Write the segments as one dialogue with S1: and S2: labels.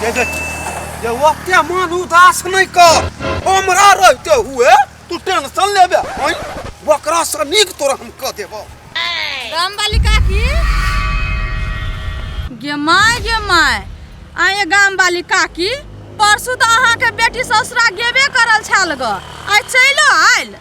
S1: ये ओते मन उदास नहीं कर हमरा रहते हुए तू टेंशन लेबे हई बकरा से नीक तोरा हम कह देबो रामबाली
S2: काकी गे माय गे माय आए गाम वाली काकी परसू तो अहाँ के बेटी ससुरा गेबे करल छाल ग आइ चलो आयल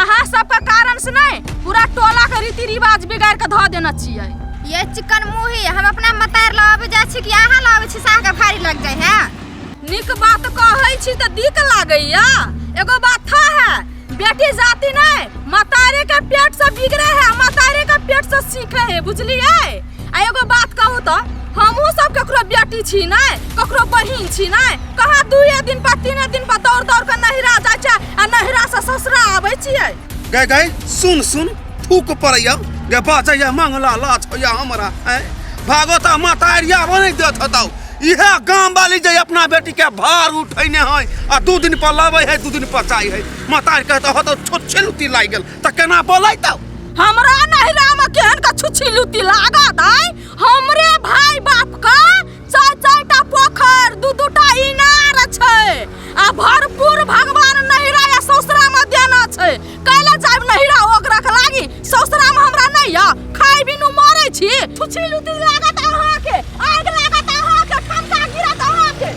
S2: अहाँ सबके कारण से नहीं पूरा टोला के रीति रिवाज बिगाड़ के धो देना चाहिए ये चिकन
S3: मुही हम अपना मतार लावे जा छी कि अहाँ लावे छी साह के भारी लग जाए है निक बात
S2: कहै छी त दिक लागैया एगो बात था है बेटी जाति नहीं मतारे के पेट से बिगड़े है मतारे के पेट से सीखे है बुझलिए आ एगो बात कहू तो हमहूँ सब ककरो बेटी छी ने ककरो बहिन छी ने कहाँ दुए दिन पर तीने दिन पर दौड़ दौड़ के नहिरा जाइ छै आ नहिरा से ससुरा आबै छियै गए गए
S1: सुन सुन थूक पड़ैया गे बाजैया मंगला लाज होइया हमरा ऐं भागो ता माता एरिया बनै देत हतौ इहे गाम वाली जे अपना बेटी के भार उठैने है आ दू दिन पर लाबै है दू दिन पर जाइ है माता कहत हतौ छोट छेलुती लागि गेल त केना बोलैतौ हमरा
S2: नहिरा में केहन का छुच्छी लुत्ती लागत है हमरे भाई बाप का चार चार टा पोखर दू दू टा इनार छै आ भरपूर भगवान नहिरा या ससुरा में देना छै कैला जाब नहिरा ओकरा के लागी ससुरा में हमरा नहीं या खाई बिनु मरे छी छुच्छी लुत्ती लागत अहाँ के आग लागत अहाँ के ठमका गिरत अहाँ के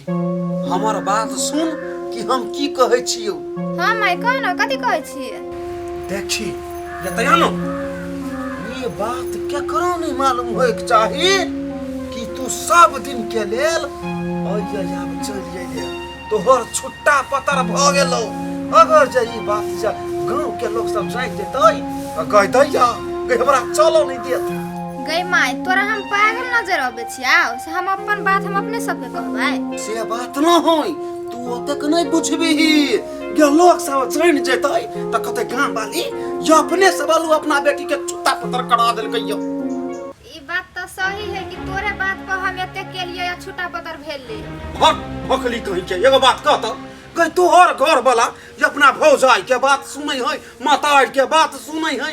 S1: हमर बात सुन कि हम की कहै छियौ हाँ माय कह
S3: ना कथी कहै छियै देखी
S1: एतया न ई बात केकरो नहीं मालूम होय के चाही कि तू सब दिन के लेल अइया आब चल जाइए तोहर छुट्टा पतर भ गेलो अगर जे ई बात जा गांव के लोग सब जान जेतै त कह दैया कि हमरा चलो नहीं देत गई माय
S3: तोरा हम पागल नजर अबै जाओ से हम अपन बात हम अपने सबके
S1: कहबै से बात न होई तू ओतेक नहीं बुझबीही गे लोग सब जान जेतै त कते गाम वाली यो अपने से बालू अपना बेटी के चुत्ता पतर करा देलकै यो ई बात तो सही है
S3: कि तोरे बात पर हम एते के लिए या छुटा पतर भेल ले भक भकली
S1: कहि के एगो बात कह त कह तोहर घर वाला जे अपना भौजाई के बात सुनै है मातार के बात सुनै है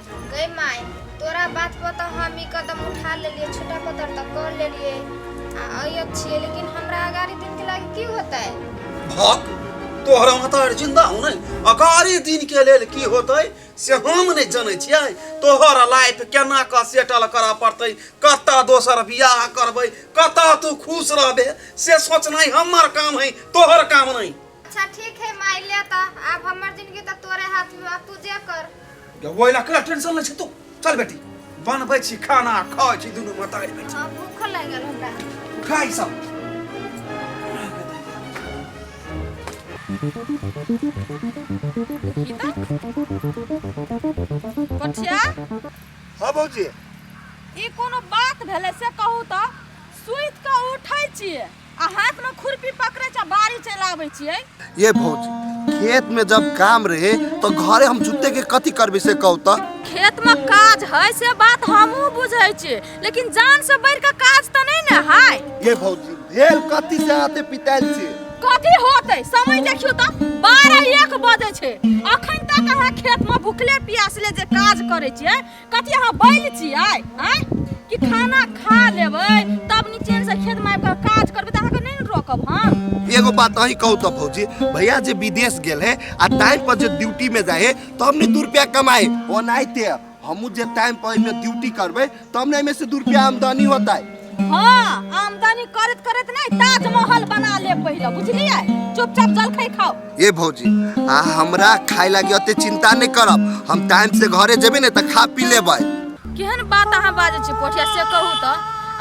S1: गई माय
S3: तोरा बात पर तो हम ई कदम उठा लेलिए छोटा पतर तक कर लेलिए आ अयो छिए लेकिन हमरा अगाड़ी दिन के लागे की होतै भक
S1: तोहरा महतार जिंदा हो नहीं अकारी दिन के लेल की होतै से हम नहीं जनै छियै तोहर लाइफ केना कऽ सेटल करऽ पड़तै कतऽ दोसर बियाह करबै कतऽ तू खुश रहबे से सोचनाइ हमर काम है तोहर काम नहीं अच्छा ठीक है
S3: माय ले त अब हमर जिंदगी त तोरे हाथ में अब तू जे कर वो इला कला टेंशन ले
S1: छै तू चल बेटी बनबै छी खाना खाइ छी दुनू मतारी बेटी हां भूख लग गेल हमरा
S2: उठा ई सब पछिया
S1: हां भौजी ई
S2: कोनो बात भेलै से कहू तऽ सुति कऽ उठै छियै आ हाथ में खुरपी पकड़े छ बाड़ी चल आवे छियै ये भौजी
S4: खेत में जब काम रहे तो घरे हम जुते के कथी करबे से कहू त खेत में काज
S2: है से बात हमहू बुझै छियै लेकिन जान से बढ़ के काज त नहीं न है ये भौजी
S4: भेल कथी से आते पिताइल से कथी होते
S2: समय देखियो त बारह एक बजे छै अखन तक अहाँ खेत में भुखले प्यासले जे काज करे छियै कथी अहाँ बैल छियै आँय कि खाना खा लेबै तब निचेन से खेत में आबि काज करबै तऽ अहाँके नहि ने रोकब हम एगो बात अही कहू तो
S4: भौजी भैया जे विदेश गेल है आ टाइम पर जे ड्यूटी में जाए है तो हमने दू रुपया कमाए ओनाहिते हमू जे टाइम पर एमे ड्यूटी करबे तब ने एमे से दू रुपया आमदनी होता है हाँ
S2: आमदनी करत करत नहीं ताजमहल बना ले पहले बुझलिए चुपचाप जलखै खाओ ए भौजी
S4: आ हमरा खाए लागी ओते चिंता नहीं करब हम टाइम से घरे जेबे ने त खा पी लेबै केहन बात
S2: अहाँ बाजै छी पोठिया से कहू तऽ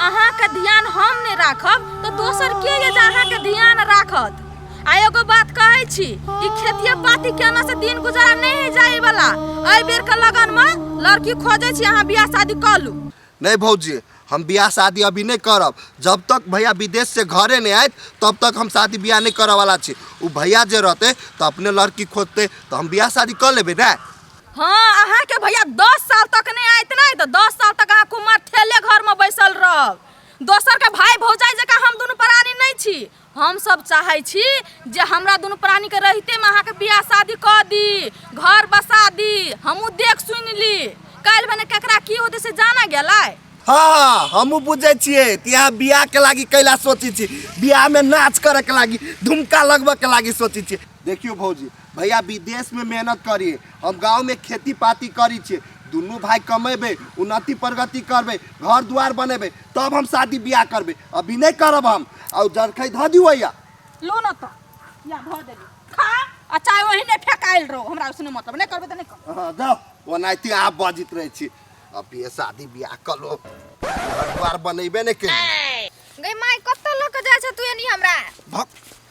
S2: अहाँके ध्यान हम नहि राखब तऽ दोसर के ये जे अहाँके ध्यान राखत आ एगो बात कहै छी कि खेतिए पाती केना से दिन गुजारा नहि है जाए वाला एहि बेर के लगन मे लड़की खोजै छी अहाँ बियाह शादी कऽ लू नहि भौजी
S4: हम बियाह शादी अभी नहि करब जब तक भैया विदेश से घरे नहि आयत तब तक हम शादी बियाह नहि करऽ वाला छी ओ भैया जे रहते तो अपने लड़की खोजते तो हम बियाह शादी कर लेबे ना हाँ अहाँ
S2: के भैया दस साल तक नहीं आयत नहीं तो दस साल तक अहाँ कुमार ठेले घर में बैसल रहब दोसर के भाई भौजाई जका हम दुनू प्राणी नहीं छी हम सब चाहै छी जे हमरा दुनू प्राणी के रहते में अहाँ के बियाह शादी क दी घर बसा दी हमू देख सुन ली काल भने केकरा की होते से जाना गेला हाँ हाँ
S4: हमू बुझे छिए तिहा बियाह के लागी कैला सोची छी बियाह में नाच करे के लागी धुमका लगबे के लागी सोची छी देखियो भौजी भैया विदेश में मेहनत करिए हम गांव में खेती पाती करी छिए दुनू भाई कमेबे उन्नति प्रगति करबे घर द्वार बनेबे तब हम शादी बियाह करबे अभी नहीं करब हम और जरखई ध दियो या लो न त
S2: या भ देली खा आ चाहे वही ने फेकाइल रहो हमरा उसने मतलब नहीं करबे त नहीं कर हाँ, जाओ ओनाहिते
S4: आप बजित रहे छी अभी ये शादी ब्याह कर लो घर द्वार बनेबे नहीं के गई माई
S3: कत्त लोग के जाय छ तू एनी हमरा भक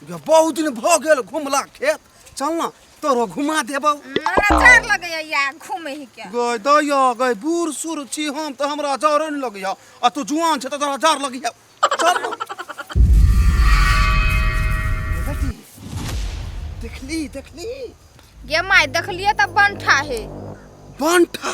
S3: ये
S1: बहुत दिन भ गेल घुमला खेत चल ना तोरो घुमा देबौ हमरा चार लगैया
S3: या घूमे ही के गय दया गय
S1: बूढ़ सूढ़ छी हम तऽ हमरा जर नहि लगैया आ तू जुआन छै तऽ तोरा जर लगैया चल ना ए बेटी देखली देखली गे माय
S3: देखलिए त बनठा हे बनठा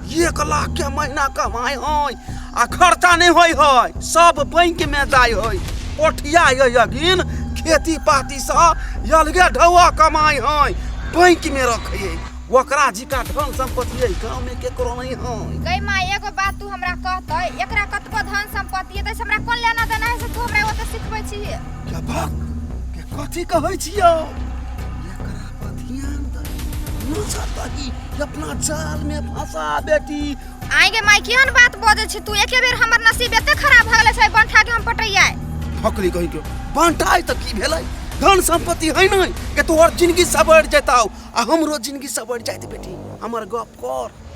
S1: एक लाख के महीना कमाई होय आ खर्चा नहीं होय होय सब बैंक में जाय होय ओठिया ये यगिन खेती पाती से अलगे ढौआ कमाई होय बैंक में रखे ओकरा जी का धन संपत्ति है गाँव में केकरो नहीं होय गई माँ एगो
S3: बात तू हमरा कहत है एकरा कतको धन संपत्ति है तैसे हमरा कोन लेना देना है से तू हमरा ओते सिखबै छी के बात
S1: के कथी कहै छियो अपना जाल में फंसा बेटी आई गे माई
S3: केहन बात बजे छी तू एके बेर हमर नसीब एते खराब भ गेले छै बंठा के हम पटैया फकली कहि के
S1: बंठाई त की भेलै धन संपत्ति है नै के तोहर जिंदगी सबर जेताउ आ हमरो जिंदगी सबर जाइत बेटी हमर गप कर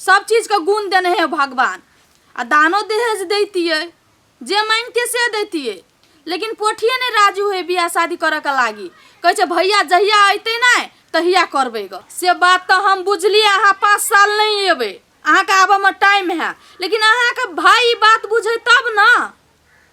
S2: सब चीजके गुण देने हे भगवान आ दानो दहेज दैतियै जे मांगिते से दैतियै लेकिन पोठिए नहि राजी होइ बियाह शादी करऽके लागी कहै छै भैया जहिया अयतै ने तहिया करबै ग से बात तऽ हम बुझलियै अहाँ पाँच साल नहि एबै अहाँके आबऽमे टाइम है लेकिन अहाँके भाय ई बात बुझै तब ने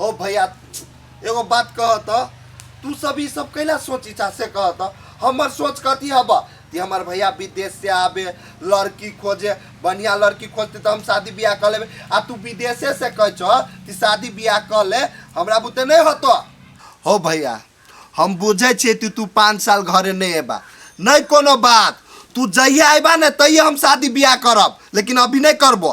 S4: हो भैया एगो बात कह त तू सब ई सब कैला सोची चा से कह त हमर सोच कथी हब कि हमर भैया विदेश से आवे लड़की खोजे बढ़िया लड़की खोजते तो हम शादी ब्याह कर लेबे आ तू विदेशे से कह छ कि शादी ब्याह कर ले हमरा बुते नहीं होतो हो भैया हम बुझै छियै कि तू पाँच साल घरे नहि एबा नहि कोनो बात तू जहिया एबा ने तहिया हम शादी बियाह करब लेकिन अभी नहि करबो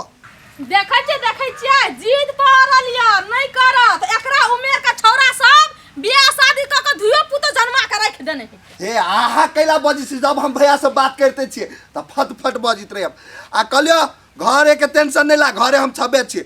S2: देखै छियै देखै छियै जिद पड़ल य नहि करत एकरा उमेर के छौरा सब बियाह शादी क के धुयो पुतो जन्मा के रख देने हे हे आहा
S4: कैला बजी छी जब हम भैया से बात करते छियै त फट फट बजित रहे आ कहलियो घरे के टेंशन नहीं ला घरे हम छबे छियै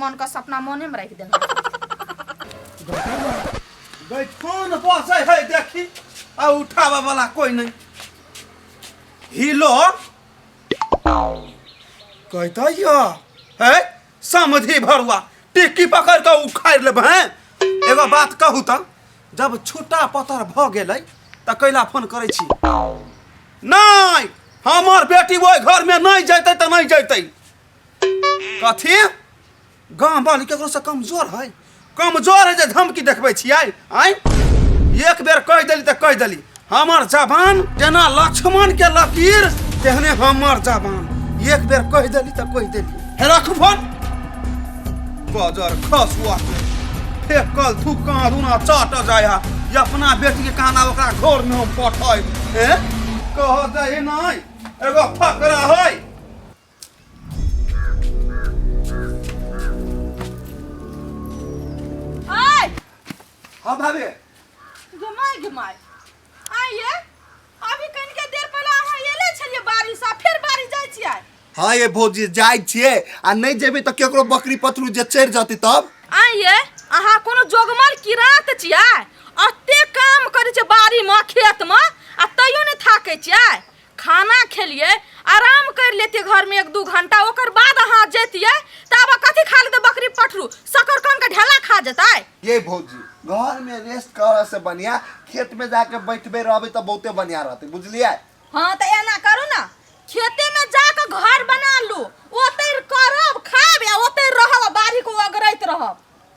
S2: मन का सपना मोने में रख देना
S1: फोन बजे है देखी आ उठावे वाला कोई नहीं हिलो कहता या है समझी भरुआ टिक्की पकड़ के उखाड़ लेब हैं एगो बात कहू त जब छुट्टा पतर भ गेलै त कैला फोन करै छी नहीं हमर बेटी ओहि घर में नहीं जैतै त नहीं जैतै कथी गाँव वाली केकरो से कमजोर है कमजोर है जे धमकी देखबै छियै आय एक बेर कहि देली तऽ कहि देली हमर जबान जेना लक्ष्मण के लकीर तेहने हमर जबान एक बेर कहि देली तऽ कहि देली हे रख फोन बजर खसुआ के फेकल तू कहाँ रूना चाट जाय हा ई अपना बेटी के कहना ओकरा घर में हम पठाई हैं कह दही नहीं एगो फकरा है हाँ भाभी घुमाय
S2: घुमाय आइए अभी कनिके देर पहिले अहाँ एले छलियै बारिश आ फेर बारिश जाइ छियै हाँ ये भौजी
S4: जाए छिए आ नहीं जेबे तो केकरो बकरी पतरू जे चढ़ जाती तब आइए
S2: अहाँ कोनो जोगमल किरात छियै अते काम करै छै बाड़ीमे खेतमे आ तैयो नहि थाकै छियै खाना खेलिए आराम कर लेते घर में एक दू घंटा ओकर बाद अहाँ जैतिए तऽ आब कथी खा लेते बकरी पठरू सकर कान के ढेला खा जेतै ये भौजी
S4: घर में रेस्ट करे से बढ़िया खेत में जाके बैठबे रहबे तो बहुते बढ़िया रहते बुझलिए हाँ तऽ एना
S2: करू ना खेते में जाके घर बना लू ओते करब खाब या ओते रहब आ बाड़ी को अगरैत रहब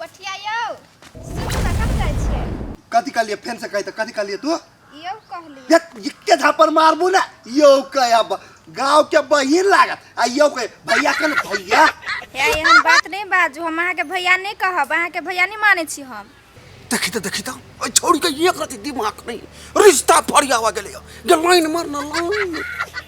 S3: पठिया यौ सुनू ने कतऽ जाइ छियै कथी कहलिए फेन
S4: से कही तो कथी कहलिए तू
S3: यौ कहली देख इक्के झापर मारबू
S4: ना यौ कहे अब गाँव के बहिन लागत आ यौ कहे भैया के ना भैया हे एहन बात
S3: नहि बाजू हम अहाँके भैया नहि कहब अहाँके भैया नहि मानै छी हम देखी तो देखी तो
S1: ओइ छोड़ के एक रति दिमाग नहीं रिश्ता फरियावा गेले गेल लाइन मारना लाइन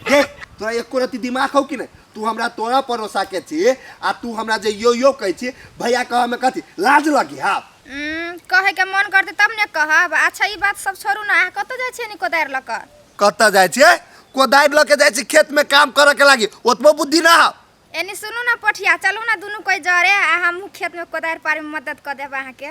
S1: देख
S4: तोरा एको रति दिमाग हौ कि नहीं तू हमरा तोरा परोसा के छी आ तू हमरा जे यो यो कहै छी भैया कह में कथी लाज लगी हा उम्म, कहे के
S3: मन करते तब ने कहब अच्छा ई बात सब छोड़ू ना अहाँ कतऽ जाइ छियै नी कोदारि लऽ कऽ कतऽ जाइ छियै
S4: कोदारि लऽ के जाइ छी खेत में काम करऽ के लागी ओतबो बुद्धि ना हा एनी सुनू ना
S3: पोठिया चलू ना दुनू कोई जरे आ हमहूँ खेत में कोदारि पारे में मदद कऽ देब अहाँके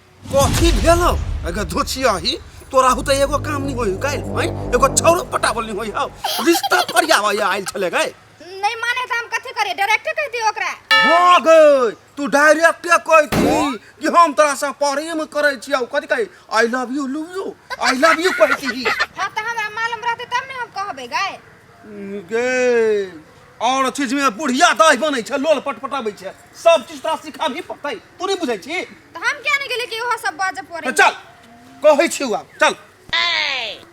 S3: कथी
S1: भेल हौ अगर धोछी आही तोरा हु तो एगो काम नहीं होई काइल हैं एगो छौरो पटावल नहीं होई हौ रिश्ता फरियावा या आइल छले गए नहीं माने तो हम
S3: कथी करे डायरेक्टर कह दियो ओकरा हो गई
S1: तू डायरेक्ट कह दी कि हम तोरा से प्रेम करे छी आउ कथी कहे I love you love you I love you कह दी हां तो
S3: हमरा मालूम रहते तब ने हम कहबे गए
S1: गे और चीज में बुढ़िया दही बनै छै लोल पटपटाबै छै सब चीज तोरा सिखा भी पड़तै तू नहीं बुझै छी तो हम
S3: क्या
S1: नहीं गेले कि वह
S3: सब
S1: बाजे
S3: पड़े तो चल कहै
S1: छी
S3: आब
S1: चल